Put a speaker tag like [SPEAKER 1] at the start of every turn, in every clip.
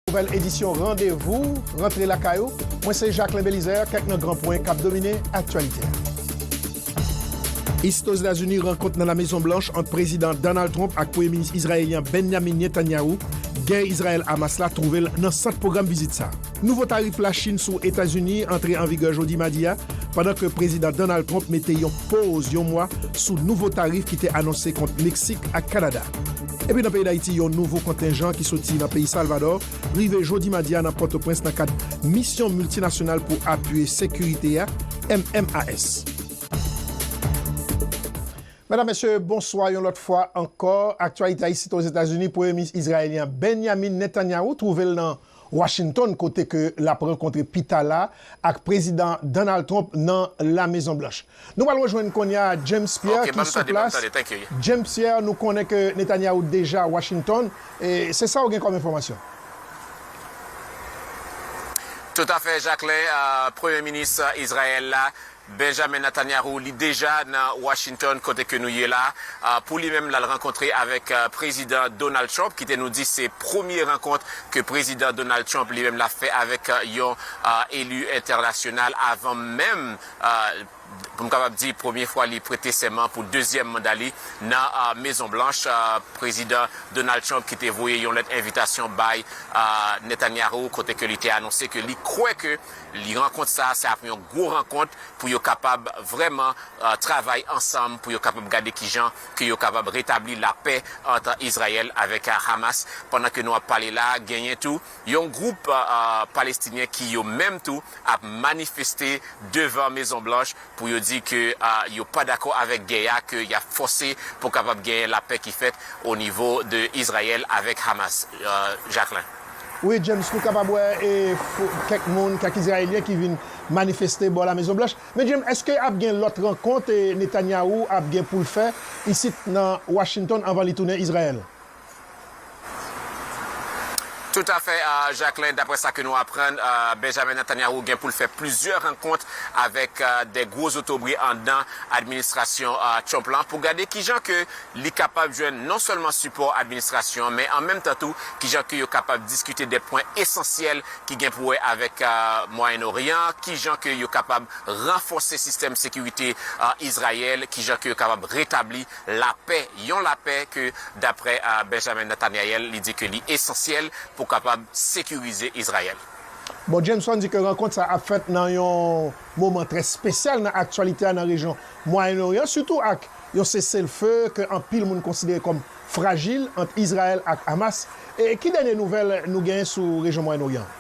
[SPEAKER 1] Nouvèl edisyon Randevou rantre lakay ou. Mwen se Jacquelin Belizaire, kèk nan gran pwen k ap domine aktyalite a. Ist Ozetazini, Rankont nan La Mezon Blanch ant Prezidan Donald Trump ak Premye Minis Izrayelyen Benyamin Netanyahu, Gè Izrayèl-Hamas la twouve l nan sant pwogram vizit sa a. Nouvo tarif Lachin sou Etazini antre an vigè jodi madi a, pandan ke Prezidan Donald Trump mete yon poz yon mwa sou nouvo tarif ki te anonse kont Meksik ak Kanada. Epi nan peyi Dayiti, yon nouvo kontenjan ki soti nan peyi Salvadò rive jodi madi a nan Pòtoprens nan kad Misyon Miltinasyonal pou Apiye Sekirite a, MMAS. Medam, Mesye, bonswa yon lòt fwa ankò. Aktyalite ayisite Ozetazini, Premye Minis Izrayelyen an, Benyamin Netanyahu, twouve l nan. Washington kote ke lap rankontre pita la ak Prezidan Donald Trump nan La Mezon Blanch. Nou pral rejwenn konya James Pierre ki sou plas. James Pierre, nou konnen ke Netanyahu deja Washington, se sa ou gen kòm enfòmasyon?
[SPEAKER 2] Toutafè Jacquelin, Premye Minis Izrayèl la, Benjamin Natanyahu li deja nan Washington kote ke nou ye la pou li menm lal rankontre avèk prezidan Donald Trump ki te nou di se premye rankont ke prezidan Donald Trump li menm lap fè avèk yon elu entènasyonal avan menm pou m kapab di premye fwa li prete sèman pou dezyèm manda li nan mezon blanch prezidan Donald Trump ki te voye yon lèt envitasyon bay Netanyahu kote ke li te anonse ke li kwè ke Li rankont sa a se ap yon gwo rankont pou yo kapab vrèman travay ansanm pou yo kapab gade kijan ke yo kapab retabli lapè ant Izrayèl avèk Hamas. Pandan ke nou ap pale la a genyen tou yon gwoup Palestinyen ki yo menm tou ap manifeste devan Mezon Blanch pou yo di ke yo pa dakò avèk gè a ke y ap fòse pou kapab genyen lapè ki fèt o nivo de Izrayèl avèk Hamas. Jacquelin. Wi James
[SPEAKER 1] nou kapab wè kèk moun kèk izrayelyen ki vin manifeste bò la mezon blanch men James eske ap gen lòt rankont Netanyahu ap gen poul fè isit nan Washington anvan li tounen Izrayèl?
[SPEAKER 2] Tout afè Jacquelin daprè sa ke nou aprann Benjamin Netanyahu gen poul fè plizyè rankont avèk 2 gwo zotobre andan administrasyon Trump lan pou gade kijan ke li kapab jwenn non sèlman sipò administrasyon an men an menm tan tou kijan ke yo kapab diskite de pwen esansyèl ki gen pou wè avèk Mwayen Oryan an, kijan ke yo kapab ranfòse sistèm sekirite Izrayèl, kijan ke yo kapab retabli lapè, yon lapè ke daprè Benjamin Nethanyael li di ke li esansyèl pou kapab sekirize Izrayèl. Bon Jameson
[SPEAKER 1] di ke rankont sa ap fèt nan yon moman trè spesyal nan aktyalite a nan rejyon Mwayen Oryan sitou ak Yon seselfe ke anpil moun konsidere kòm frajil ant Izrayèl ak Hamas e ki dènye nouvèl nou gen sou rejyon Mwayen Oryan an?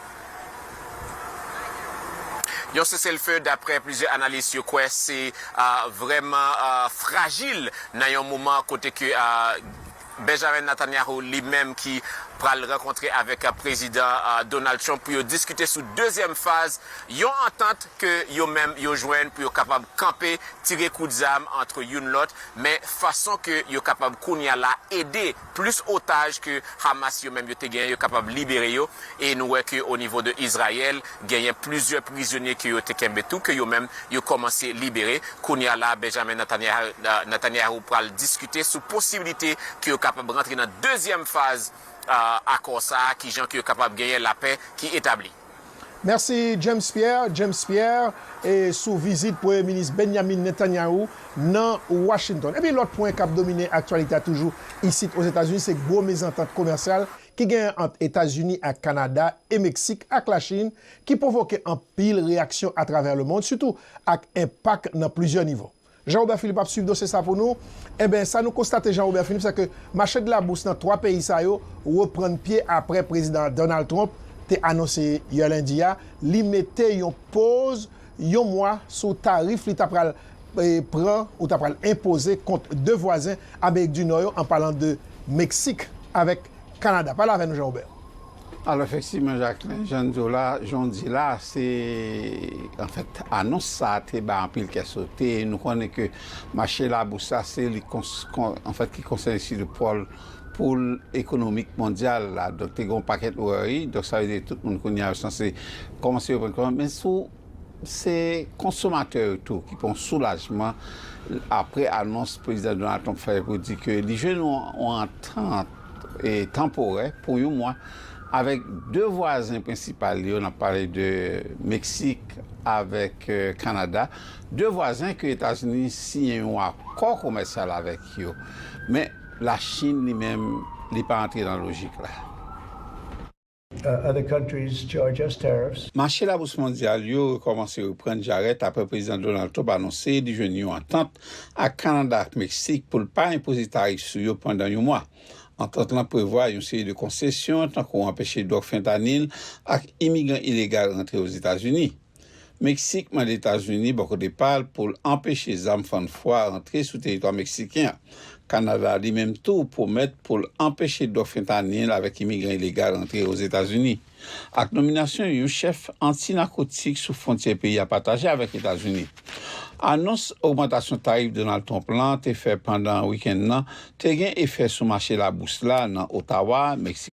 [SPEAKER 2] Yon seselfe daprè plizyè analis yo kwè se vrèman frajil nan yon moman kote ke Benjamin Netanyahu li menm ki pral rankontre avèk Prezidan Donald Trump pou yo diskite sou dezyèm faz yon antant ke yo menm yo jwenn pou yo kapab kanpe tire kout zam antre youn lòt men fason ke yo kapab kounye a la ede plis otaj ke Hamas yo menm yo te genyen yo kapab libere yo e nou wè ke o nivo de Izrayèl Genyen plizyè prizonye ke yo te kenbe tou ke yo menm yo kòmanse libere. Kounye a la Benjamin Netanyahu pral diskite sou posibilite ke yo kapab rantre nan dezyèm faz akò sa a, kijan ke yo kapab genyen lapè ki etabli. Mèsi
[SPEAKER 1] James Pierre, James Pierre, e sou vizit Premye Minis Benjamin Netanyahu nan Washington. Epi lòt pwen kap domine aktyalite a toujou isit Ozetazini se gwo mezantant komèsyal ki genyen ant Etazini ak Kanada e Meksik ak Lachin ki pwovoke anpil reyaksyon atravè lemond sitou ak enpak nan plizyè nivo. Jean Robert Philippe ap swiv dosye sa pou nou. Enben, sa nou konstate Jean Robert Philippe, se ke mache de la bous nan 3 peyi sa yo reprann pye apre Prezidan Donald Trump te anonse yè lendi a li mete yon poz yon mwa sou tarif li ta pral pran ou ta pral enpoze kont 2 vwazen Amerik di Nò yo an palan de Meksik avèk Kanada. Pale avè nou Jean Robert. Alo
[SPEAKER 3] efektivman Jacqueline, jan n di w la, jan w di la, se anfèt anons sa a te bay anpil kè sote. Nou konnen ke mache labous la se li anfèt ki konsène sitou pòl poul ekonomik mondyal la donk te gen yon pakèt wòri donk sa vle di tout moun kounye a yo sanse kòmanse reprann konsyans men sou se konsomatè yo tou ki pran yon soulajman aprè anons prezidan Donald Trump fè pou di ke li jwenn yon antant tanporè pou yon mwa avèk 2 vwazen prensipal li yo nap pale de Meksik avèk Kanada 2 vwazen ke Etazini siyen yon akò komèsyal avèk yo men. La Chine li menm li pa antre nan lojik la.
[SPEAKER 4] Mache labous mondyal
[SPEAKER 3] yo rekòmanse reprann jarèt apre Prezidan Donald Trump anonse li jwenn yon antant ak Kanada ak Meksik pou l pa enpoze tarif sou yo pandan yon mwa. Antant lan prevwa yon seri de konsesyon tankou anpeche dwòg fentanyl ak imigran ilegal rantre Ozetazini. Meksik mande Etazini bò kote pa l pou l anpeche zam fann fwa rantre sou teritwa meksiken an. Kanada li menm tou pwomèt pou l anpeche dwòg fentanyin l avèk imigran ilegal rantre Ozetazini. Ak nominasyon yon chèf anti-nakotik sou fwontyè peyi a pataje avèk Etazini. Anons ogmantasyon tarif Donald Trump lan te fè pandan wikenn nan te gen efè sou mache labous la nan Ottawa, Meksik.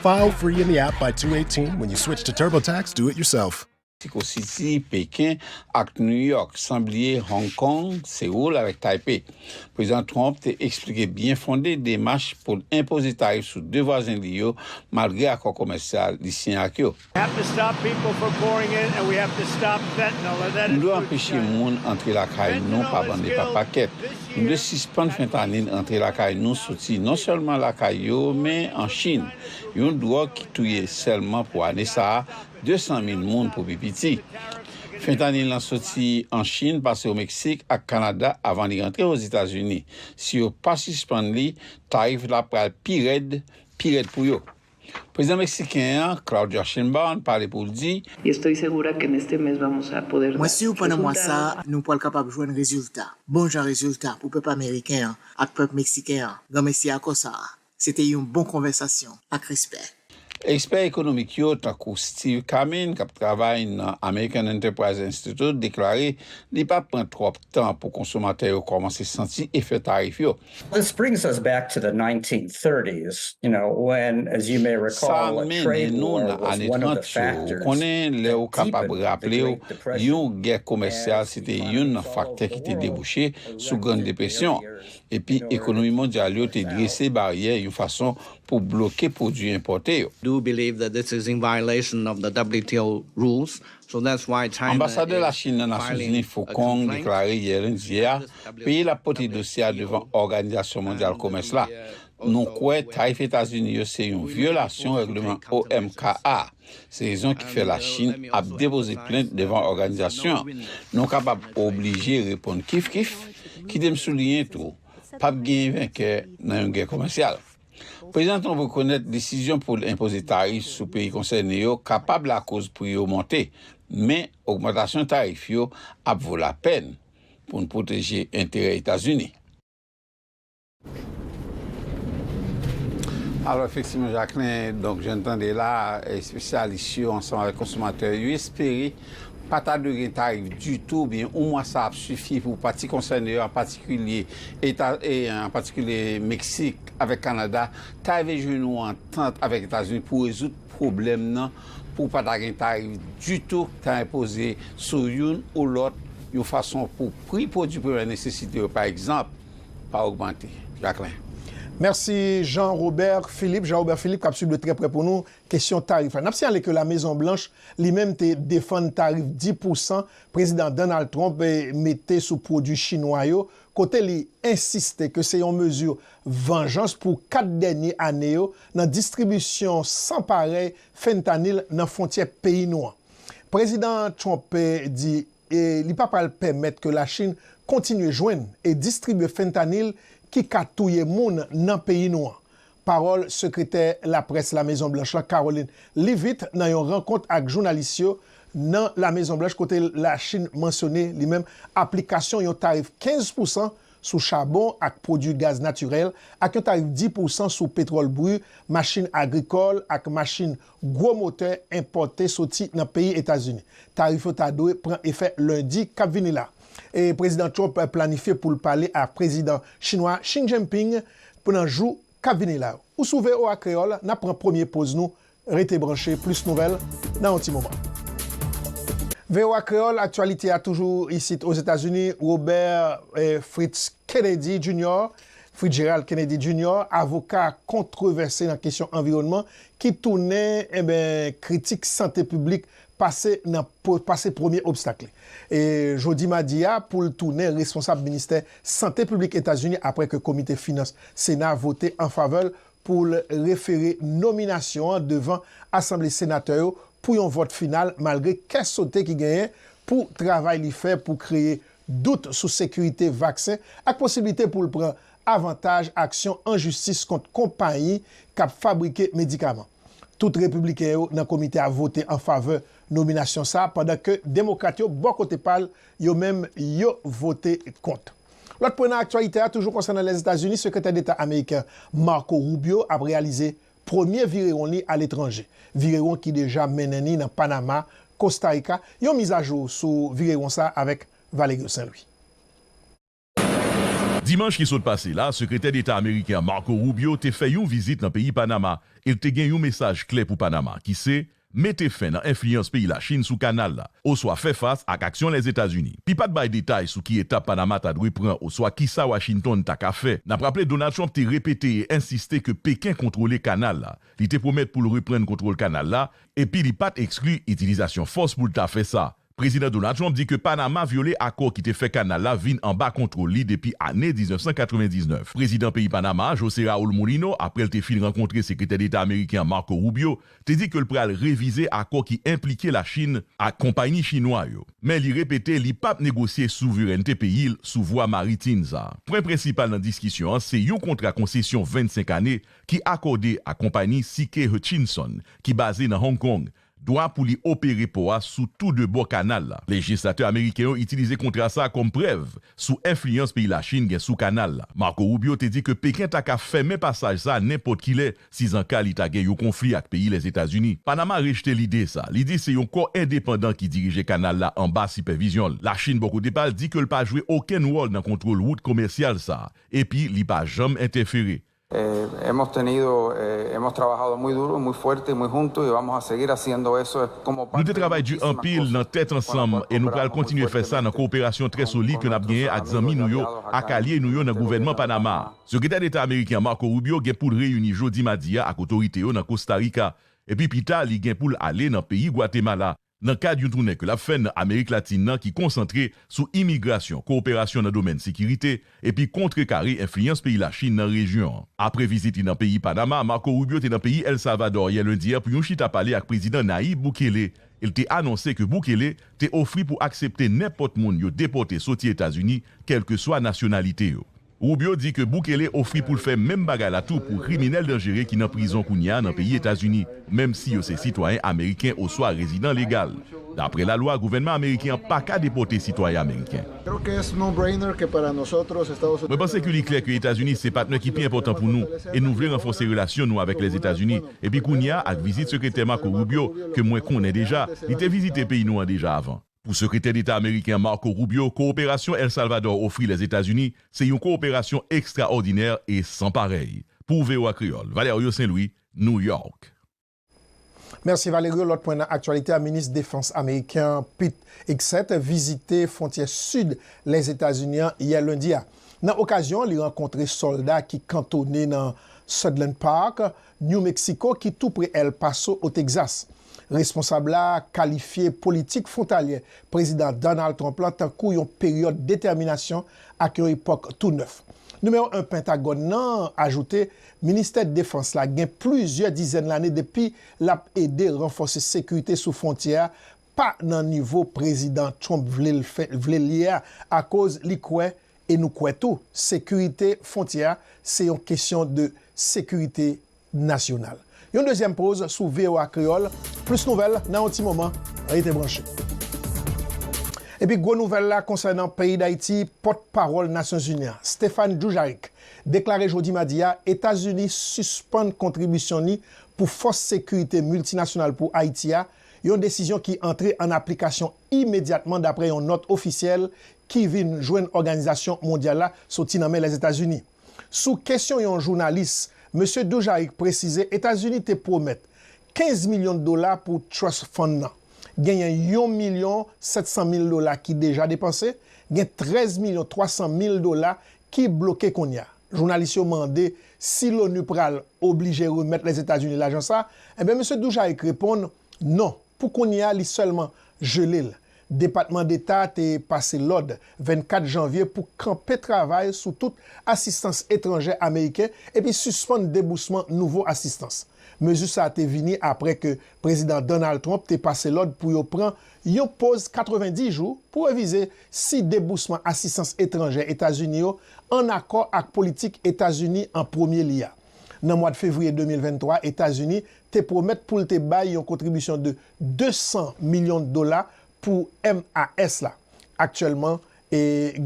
[SPEAKER 5] File free in the app by 218 when you switch to TurboTax Do It Yourself. Mexico City,
[SPEAKER 3] Peken, ak New York, san bliye Hong Kong, Seoul avèk Taipei. Prezidan Trump te eksplike byen fonde demach pou l enpoze tarif sou 2 vwazen li yo malgre akò komèsyal li siyen ak yo. Nou dwe anpeche moun antre lakay nou pa bann e pa pakèt. Nou dwe sispann fentanyl antre lakay nou soti non sèlman lakay yo men an Chin, yon dwòg ki touye sèlman pou ane sa a 200 mil moun pou pi piti. Fentanyl lan soti an Chin pase o Meksik ak Kanada avan li rantre Ozetazini. Si yo pa sispann li, tarif la pral pi rèd, pi rèd pou yo. Prezidan Meksiken an, Claudia Sheinbaum, pale pou l di. Mwen
[SPEAKER 6] si w pandan mwa sa a, nou pral kapab jwenn rezilta, bon jan rezilta pou pèp ameriken an ak pèp meksiken an. Granmesi akò sa a. Se te yon bon konvèsasyon. Ak respè. Ekspè
[SPEAKER 3] ekonomik yo, tankou Steve Kamine, k ap travay nan American Enterprise Institute, deklare li p ap pran twòp tan pou konsomatè yo kòmanse santi efè tarif yo. Sa
[SPEAKER 7] mennen nou nan ane 30 yo. Ou konnen, lè ou
[SPEAKER 3] kapab raple ou, yon gè komèsyal se te youn nan faktè ki te debouche sou Grann Depresyon. Epi ekonomi mondyal yo te drese baryè yon fason pou bloke pwodui enpòte yo.
[SPEAKER 8] Anbasadè Lachin nan
[SPEAKER 3] Nasyonzini Fu Kong deklare yè lendi a Peyi l ap pote dosye a devan Òganizasyon Mondyal Komès la. Nou kwè tarif Etazini yo se yon vyolasyon règleman OMK a. Se rezon ki fè Lachin ap depoze plent devan òganizasyon an. Nou kapab oblije reponn kif-kif. Kite m souliyen tou, pa p genyen venkè nan yon gè komèsyal. Prezidan Trump rekonèt desizyon pou l enpoze tarif sou peyi konsène yo kapab lakoz pri yo monte, men ogmantasyon tarif yo ap vo lapèn. pou n pwoteje enterè Etazini. Alò efektivman Jacquelin, donk jan n tande la, espesyalis yo ansanm avèk konsomatè yo espere pa ta dwe gen tarif ditou oubyen yon mwa sa ap sifi pou pati konsène yo an patikilye eta an patikilye Meksik avèk Kanada ta rive jwenn yon antant avèk Etazini pou rezoud pwoblèm nan pou pa ta gen tarif ditou k ta enpoze sou youn ou lòt yon fason pou pri pwodui premyè nesesite yo pa egzanp pa ogmante. Jacquelin. Mèsi
[SPEAKER 1] Jean Robert Philippe. Jean Robert Philippe k ap suiv de trè prè pou nou kesyon tarif la. N ap siyale ke Lamezon Blanch li menm te defann tarif 10 pousan Prezidan Donald Trump mete sou pwodui chinwa yo kote li ensiste ke se yon mezi vanjans pou 4 dènye ane yo nan distribisyon san parèy fentanyl nan fwontyè peyi nou an. Prezidan Trump di li pa pral pèmèt ke Lachin kontinye jwenn e distribye fentanyl ki ka touye moun nan peyi nou an. Pawòl sekretè laprès Lamezon Blanch la Karoline Leavitt nan yon rankont ak jounalis yo nan Lamezon Blanch kote Lachin mansyone li menm aplikasyon yon tarif 15 pousan sou chabon ak pwodui gaz natirèl ak yon tarif 10 pousan sou petwòl bri, machin agrikòl ak machin gwo motè enpòte soti nan peyi Etazini. Tarif yo ta dwe pran efè lendi k ap vini la. Prezidan Trump planifye pou l pale ak Prezidan chinwa Xi Jinping nan jou k ap vini la yo. Ou sou voa Kreyòl, n ap pran premye poz nou Rete branche, plis nouvèl nan yon ti moman. Voa Kreyòl, aktyalite a toujou isit Ozetazini, Robert Fritz Kennedy Junior, Fritgerald Kennedy Junior, avoka kontrevèse nan kesyon anviwònman ki tounen enben kritik sante piblik pase nan pase premye obstak li jodi madi a pou l tounen responsab ministè sante piblik Etazini apre ke komite finans Sena vote anfavè l pou l refere nominasyon an devan Asanble Senatè yo pou yon vòt final malgre kè sote ki genyen pou travay li fè pou kreye dout sou sekirite vaksen ak posiblite pou l pran avantaj aksyon an jistis kont konpayi k ap fabrike medikaman. Tout Repibliken yo nan komite a vote an favè nominasyon sa a pandan ke Demokrat yo bò kote pa l yo menm yo vote kont. Lòt pwen nan aktyalite a toujou konsènan Lèzetazini, Sekretè Deta Ameriken Marco Rubio ap reyalize premye virewon li aletranje, virewon ki deja mennen ni nan Panama, Kosta Rika, yon mizajou sou virewon sa avèk Valerio Saint-Louis.
[SPEAKER 9] Dimanch ki sot pase la, Sekretè Deta Ameriken Marco Rubio te fè yon vizit nan peyi Panama e l te gen yon mesaj kle pou Panama ki se, mete fen nan enfliyans peyi Lachin sou kanal la, oswa fè fas ak aksyon Lèzetazini. Li pa t bay detay sou ki etap Panama ta dwe pran oswa kisa Washington ta ka fè. N ap raple Donald Trump te repete e ensiste ke Peken kontwole kanal la. Li te pwomèt pou l reprann kontwol kanal la, epi li pa t ekskli itilizasyon fòs pou l ta fè sa. Prezidan Donald Trump di ke Panama vyole akò ki te fè kanal la vin anba kontwol li depi ane 1999. Prezidan peyi Panama a, Jose Raul Mulino, apre l te fin rankontre Sekretè Deta Ameriken an Marco Rubio, te di ke l pral revize akò ki enplike Lachin ak konpayni Chinwa yo. Men li repete li pap negosye souverènte peyi l sou vwa maritin sa. Pwen prensipal nan diskisyon an se yon kontra konsesyon 25 ane ki akòde ak konpayni CK Hutchinson ki baze nan Hong Kong dwa pou li opere pò a sou tou de bò kanal la. Lejislatè ameriken yo itilize kontra sa a kòm prèv sou enfliyans peyi Lachin gen sou kanal la. Marco Rubio te di ke Peken ta ka fèmen pasaj sa a nenpòt ki lè sizanka li ta gen yon konfli ak peyi Lèzetazini. Panama rejte lide sa a. Li di se yon kò endepandan ki dirije kanal la anba sipèvizyon l. Lachin bò kote pa l di ke l pa jwe okenn wòl nan kontwol wout komèsyal sa a epi li pa janm entèfere
[SPEAKER 10] Nou te travay di anpil
[SPEAKER 9] nan tèt ansanm e nou pral kontinye fè sa nan kowoperasyon trè solid ke n ap genyen ak zanmi nou yo ak alye nou yo nan gouvènman Panama a. Sekretè Deta ameriken an Marco Rubio gen pou l reyini jodi madi a ak otorite yo nan Kosta Rika epi pita li gen pou l ale nan peyi Gwatemala Nan kad yon toune ke lap fè nan Amerik Latin nan ki konsantre sou imigrasyon, kowoperasyon nan domèn sekirite, epi kontrekare enfliyans peyi Lachin nan rejyon an. Apre vizit li nan peyi Panama, Marco Rubio te nan peyi El Salvador yè lendi a pou yon chita pale ak Prezidan Nayib Bukele e l te anonse ke Bukele te ofri pou aksepte nenpòt moun yo depòte soti Etazini kèlkeswa nasyonalite yo. Rubio di ke Bukele ofri pou l fè menm bagay la tou pou kriminèl danjere ki nan prizon kounye a nan peyi Etazini, menm si yo se sitwayen ameriken oswa rezidan legal. Dapre lalwa, gouvènman ameriken an pa ka depòte sitwayen ameriken. Mwen panse ke li klè ke Etazini se patnè ki pi enpòtan pou nou, e nou vle ranfòse relasyon nou avèk Lèzetazini. Epi kounye a, ak vizit Sekretè Marco Rubio, ke mwen konnen deja, li te vizite peyi nou an deja avan. Pou Sekretè Deta Ameriken Marco Rubio, kowoperasyon El Salvador ofri Lèzetazini se yon kowoperasyon ekstraòdinè e san parèy. Pou voa Kreyòl, Valerio Saint-Louis, New York.
[SPEAKER 1] Mèsi Valerio, lòt pwen nan aktyalite a, Minis Defans Ameriken an Pete Hegseth vizite fwontyè sid Lèzetazini an yè lendi a. Nan okazyon an li rankontre sòlda ki kantone nan Sutherland Park New Mexico ki tou pre El Paso o Texas. Responsab la kalifye politik fwontalyè Prezidan Donald Trump la tankou yon peryòd detèminasyon ak yon epòk tou nèf. Nimewo 1 Pentagòn nan ajoute Ministè Defans la gen plizyè dizèn lane depi l ap ede ranfòse sekirite sou fwontyè a pa nan nivo prezidan Trump vle l ye a akoz li kwè, e nou kwè tou, sekirite fwontyè a se yon kesyon de sekirite nasyonal. Yon dezyèm poz sou voa Kreyòl, plis nouvèl nan yon ti moman, rete branche. Epi gwo nouvèl la konsènan peyi Dayiti, pòt pawòl Nasyonzini an, Stephane Dujarric, deklare jodi madi a Etazini sispann kontribisyon li pou fòs sekirite miltinasyonal pou Ayiti a, Yon desizyon ki antre an aplikasyon imedyatman dapre yon nòt ofisyèl ki vin jwenn òganizasyon mondyal la soti nan men Lèzetazini. Sou kesyon yon jounalis, Mesye Dujarric presize Etazini te pwomèt 15 milyon dola pou Trust Fund nan. Genyen yon milyon 700 mil dola ki deja depanse, gen 13 milyon 300 mil dola ki bloke kounye a. Jounalis yo mande si l'ONU pral oblije remèt Lèzetazini lajan sa, enben Mesye Dujarric reponn non, pou kounye a li sèlman jele l. Depatman Deta te pase lòd 24 janvye pou kanpe travay sou tout asistans etranjè ameriken epi sispann debousman nouvo asistans. Mezi sa te vini apre ke Prezidan Donald Trump te pase lòd pou yo pran yon poz 90 jou pou revize si debousman asistans etranjè Etazini yo ann akò ak politik Etazini an premye li a. Nan mwad fevriye 2023, Etazini te pwomèt pou l te bay yon kontribisyon de 200 milyon dola pou MAS la. Aktyèlman,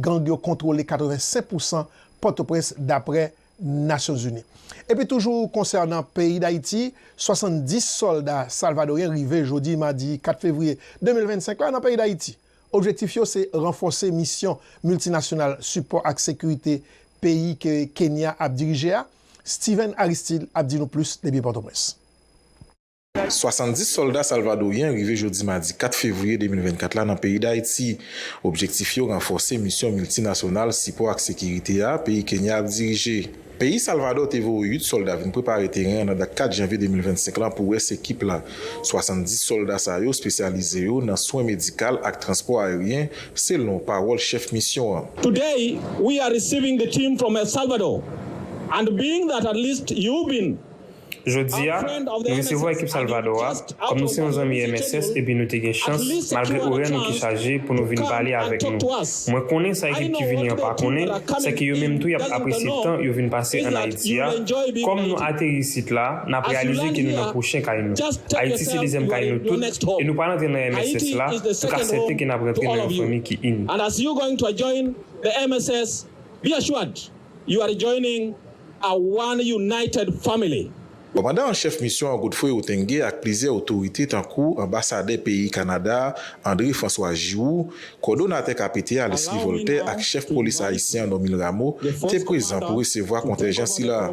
[SPEAKER 1] gang yo kontwole 85 pousan Pòtoprens daprè Nasyonzini. Epi toujou konsènan peyi Dayiti, 70 sòlda salvadoryen rive jodi madi 4 fevriye 2025 la nan peyi Dayiti. Objektif yo se ranfòse misyon miltinasyonal sipò ak sekirite peyi ke Kenya ap dirije a, Steven Aristide ap di nou plis depi Pòtoprens. 70
[SPEAKER 11] sòlda salvadoryen rive jodi madi 4 fevriye 2024 la nan peyi Dayiti. Objektif yo ranfòse misyon miltinasyonal sipò ak sekirite a peyi Kenya ap dirije. Peyi Salvadò te voye 8 sòlda vin prepare teren an nan dat 4 janvye 2025 la pou rès ekip la. 70 sòlda sa yo spesyalize yo nan swen medikal ak transpò aeryen, selon pawòl chèf misyon an. Today we
[SPEAKER 12] are receiving the team from El Salvador and being that at least you been Jodi a,
[SPEAKER 13] nou resevwa ekip Salvadò a, kòm nou se yon zanmi mss epi nou te gen chans, malgre orè nou ki chaje, pou nou vin pale avèk nou. Mwen konnen sa ekip ki vini an pa konnen, sè ke yo menm tou y ap apresye tan yo vin pase ann Ayiti a. Kòm nou ateri isit la, n ap reyalize ke nou nan pwochen kay nou. Ayiti se dezyèm kay nou tout, e nou pa rantre nan mss la, nou ka sèten ke n ap rantre nan yon fanmi ki
[SPEAKER 12] ini. a one united family. Kòmandan an chèf
[SPEAKER 11] misyon an Godfrey Otenge ak plizyè otorite tankou anbasadè peyi Kanada a André François Giroux, kòdonatè KPT a Leslie Voltaire ak chèf polis ayisyen an Normil Rameau te prezan pou resevwa
[SPEAKER 14] kontènjan sila a.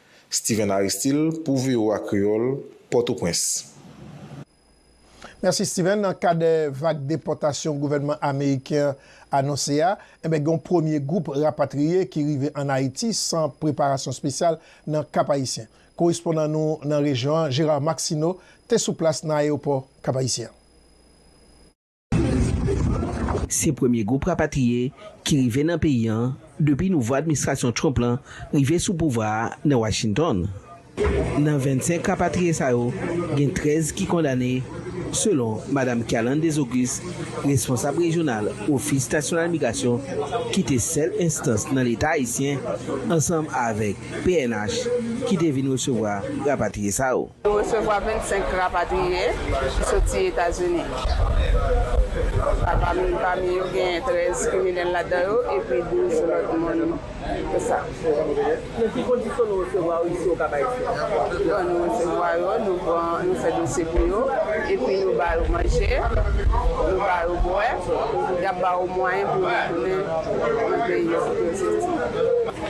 [SPEAKER 11] Steven Aristil pou voa Kreyol, Potoprens.
[SPEAKER 1] Mèsi Steven, nan kad vag depòtasyon gouvènman ameriken an anonse a, enben gen yon premye gwoup rapatriye ki rive an Ayiti san preparasyon spesyal nan Kap Ayisyen. Korespondan nou nan rejyon an Gérard Maxineau te sou plas nan ayewopò Kap Ayisyen an.
[SPEAKER 15] Se premye gwoup rapatriye ki rive nan peyi an depi nouvo administrasyon Trump lan rive sou pouvwa a nan Washington. Nan 25 rapatriye sa yo, gen 13 ki kondane, selon Madam Kerlande Desauguste, responsab rejyonal Ofis Nasyonal Migrasyon ki te sèl enstans nan Leta ayisyen, ansanm avèk pnh ki te vin resevwa rapatriye sa yo. Yo resevwa
[SPEAKER 16] 25 rapatriye ki soti Etazini. Pami yo genyen 13 kriminèl ladan yo epi 12 lòt moun ke sa. Nan ki kondisyon nou resevwa yo isi Okap Ayisyen? Bon, nou resevwa yo, nou pran, nou fè dosye pou yo, epi nou ba yo manje, nou ba yo bwè, y ap ba yo mwayen pou yo retounen nan peyi yo kote yo soti.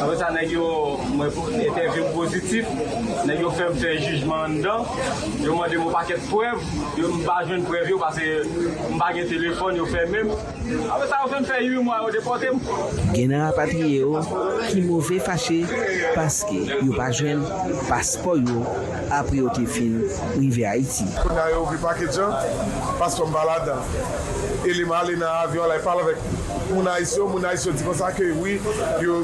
[SPEAKER 17] Apre sa nèg yo mwen entèvyou m pozitif, nèg yo fè m fè jijman anndan, yo mande m yon pakèt prèv, yo m pa jwenn prèv yo pase m pa gen telefòn, yo fèmen m. Apre sa yo fè m fè 8 mwa yo depòte m. Gen nan
[SPEAKER 15] rapatriye yo ki move fache paske yo pa jwenn paspò yo apre yo te fin rive Ayiti. Kounye a yo ouvri pakej
[SPEAKER 18] an, paspò m pa ladan l. Eli m ale nan avyon al, li pa l avèk m. Pou moun Ayis yo, moun Ayis yo di konsa ke wi, yo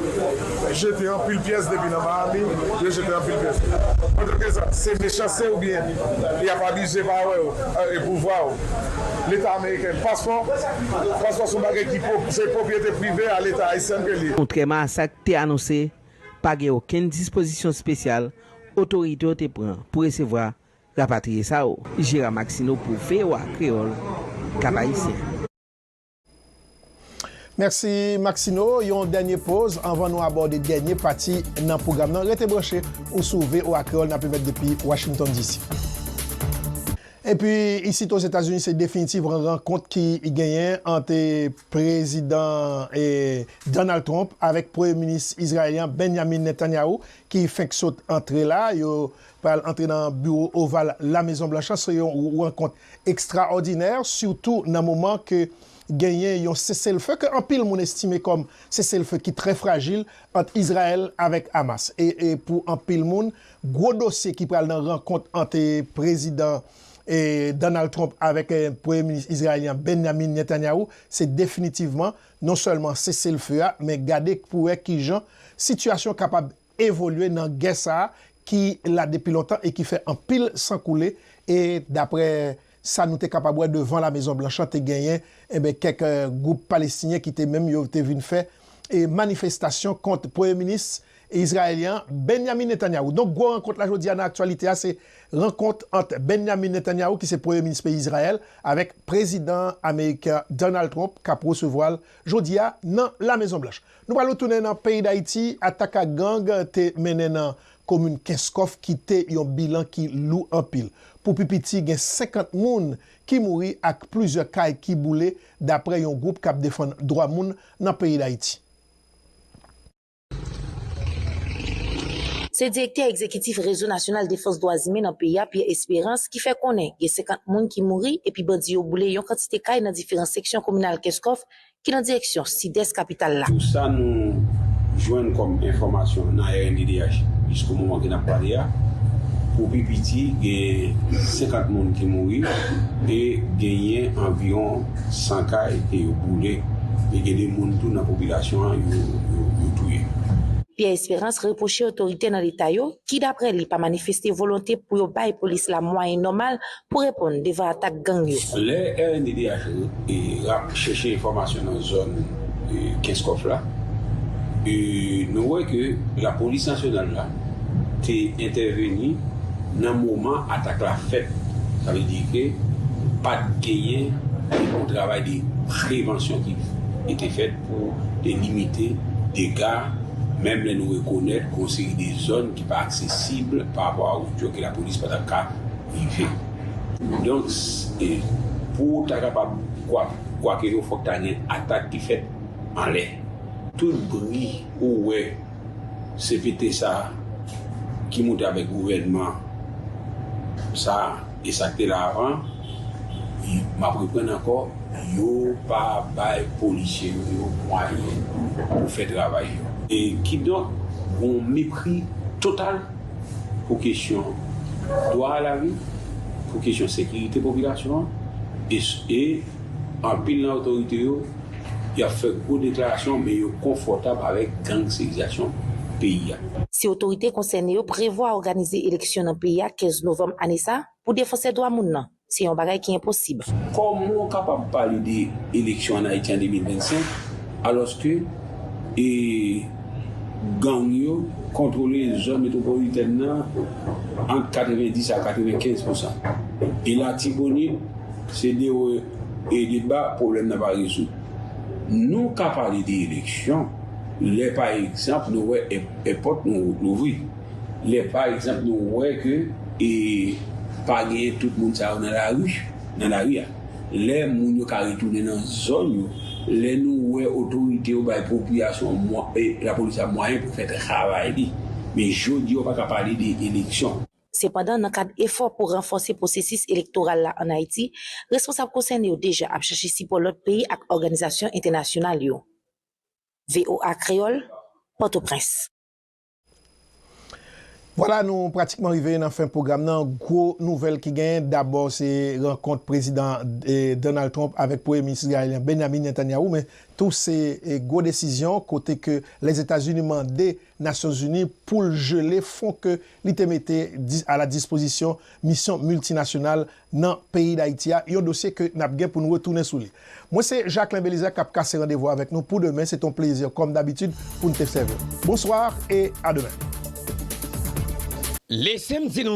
[SPEAKER 18] jete anpil pyès depi nan Miami, yo jete anpil pyès. Pòtoprezan, se mechanste ou byen y ap abize pawe ou e pouvwa ou? Leta ameriken, paspò? Paspò se yon bagay ki se pwopriyete prive a leta ayisyen ke li ye. Kontrèman a sa k te
[SPEAKER 15] anonse, pa gen okenn dispozisyon spesyal otorite yo te pran pou resevwa rapatriye sa yo. Gérard Maxineau pou voa Kreyòl, Kap-Ayisyen.
[SPEAKER 1] Mèsi Maxino, yon dènye poz anvan nou abòde dènye pati nan pwogram nan. Rete branche, ou sou voa Kreyol n ap emet depi Washington DC. Epi isit Ozetazini se definitivran rankont ki genyen ant Prezidan Donald Trump avèk Premye Minis Izrayelyan Benyamin Netanyahu ki fenk sot antre la. Yo pral antre nan biwo oval La Mezon Blanch la. Se yon rankont ekstraòdinè sitou nan moman ke genyen yon seselfe ke anpil moun estime kòm seselfe ki trè frajil ant Izrayèl avèk Hamas e pou anpil moun gwo dosye ki pral nan rankont ant Prezidan Donald Trump avèk Premye Minis Izrayelyen Benyamin Netanyahu se definitivman non sèlman seselfe a men gade pou wè kijan sitiyasyon kapab evolye nan gè sa ki la depi lontan e ki fè anpil san koule e daprè sa nou te kapab wè devan La Mezon Blanch lan te genyen enben kèk gwoup palestinyen ki te menm yo te vin fè manifestasyon kont premye minis izrayelyen an Benyamin Netanyahu. Donk gwo rankont la jodi a nan aktyalite a se rankont ant Benyamin Netanyahu ki se premye minis peyi Izrayèl avèk prezidan ameriken an Donald Trump kap resevwa l jodi a nan La Mezon Blanch. Nou pral retounen nan peyi Dayiti, atak ak gang te mennen nan komin Kenskòf kite yon bilan ki lou anpil. Pou pi piti gen 50 moun ki mouri ak plizyè kay ki boule daprè yon gwoup kap defann dwa moun nan peyi Dayiti.
[SPEAKER 19] Se direktè egzekitif Rezo Nasyonal Defans Dwa Zimen nan peyi a, Pierre Espérance ki fè konnen gen 50 moun ki mouri epi bandi yo boule yon kantite kay nan diferan seksyon kominal Kenskòf ki nan direksyon sidès kapital la. Pou sa nou
[SPEAKER 20] jwenn kòm enfòmasyon nan rnddh jisko moman ke nap pale a, pou pi piti genyen 50 moun ki mouri e genyen anviwon 100 kay ke yo boule e gen de moun tou nan popilasyon an yo touye. Pierre Esperance
[SPEAKER 19] repwoche otorite nan leta yo ki daprè li pa manifeste volonte pou yo bay polis la mwayen nòmal pou reponn devan atak gang yo. Lè rnddh
[SPEAKER 20] rap chèche enfòmasyon nan zòn Kenskòf la, nou wè ke lapolis nasyonal la te entèveni nan moman atak la fèt. Sa vle di ke pat genyen yon travay de prevansyon ki te fèt pou te limite dega, menm lè nou rekonèt gen yon seri de zòn ki pa aksesib pa rapò a wout yo ke lapolis pa tap ka rive. Donk pou ou ta kapab kwake yo fòk ta gen atak ki fèt anlè. Tout bri ou wè cpt sa ki moute avèk gouvènman sa e sa k te la avan, m ap reprann ankò, yo pa bay polisye nou yo mwayen pou fè travay yo. Kidonk, gen yon mepri total. pou kesyon dwa a lavi, pou kesyon sekirite popilasyon an e anpil nan otorite yo y ap fè gwo deklarasyon men yo konfòtab avèk gangsterizasyon peyi a. Si otorite
[SPEAKER 19] konsène yo prevwa òganize eleksyon nan peyi a 15 novanm ane sa, pou defansè dwa moun nan, Se yon bagay ki enposib. Kòman w kapab
[SPEAKER 20] pale de eleksyon an Ayiti an 2025 alòske gang yo kontwole zòn metwopolitèn nan ant 90 a 95 pousan? E Latibonit se de wo e de ba pwoblèm nan pa rezoud? Nou ka pale de eleksyon lè pa egzanp nou wè èpòt nou louvri. Lè pa egzanp nou wè ke e pa genyen tout moun sa yo nan lari, nan lari a. Lè moun yo ka retounen nan zòn yo. Lè nou wè otorite yo bay popilasyon mwa e lapolis la mwayen pou fè travay li. Men jodi a ou pa ka pale de eleksyon. Sepandan, nan kad
[SPEAKER 19] efò pou ranfòse pwosesis elektoral la an Ayiti, responsab konsène yo deja ap chache sipò lòt peyi ak òganizasyon entènasyonal yo. Voa Kreyòl, Pòtoprens.
[SPEAKER 1] Vwala nou pratikman rive nan fen pwogram nan, gwo nouvèl ki genyen dabò se rankont Prezidan Donald Trump avèk Premye Minis Izrayelyen Benyamin Netanyahu men tou se gwo desizyon kote ke Lèzetazini mande Nasyonzini poul jele fon ke li te mete a la dispozisyon misyon miltinasyonal nan peyi Dayiti a, yon dosye ke nap gen pou nou retounen sou li. Mwen se Jacquelin Belizaire kap kase randevou avèk nou pou demen, se te yon plezi kòm dabitid pou n te sèvi w. Bonsoir et
[SPEAKER 2] à
[SPEAKER 1] demain! Lese m di nou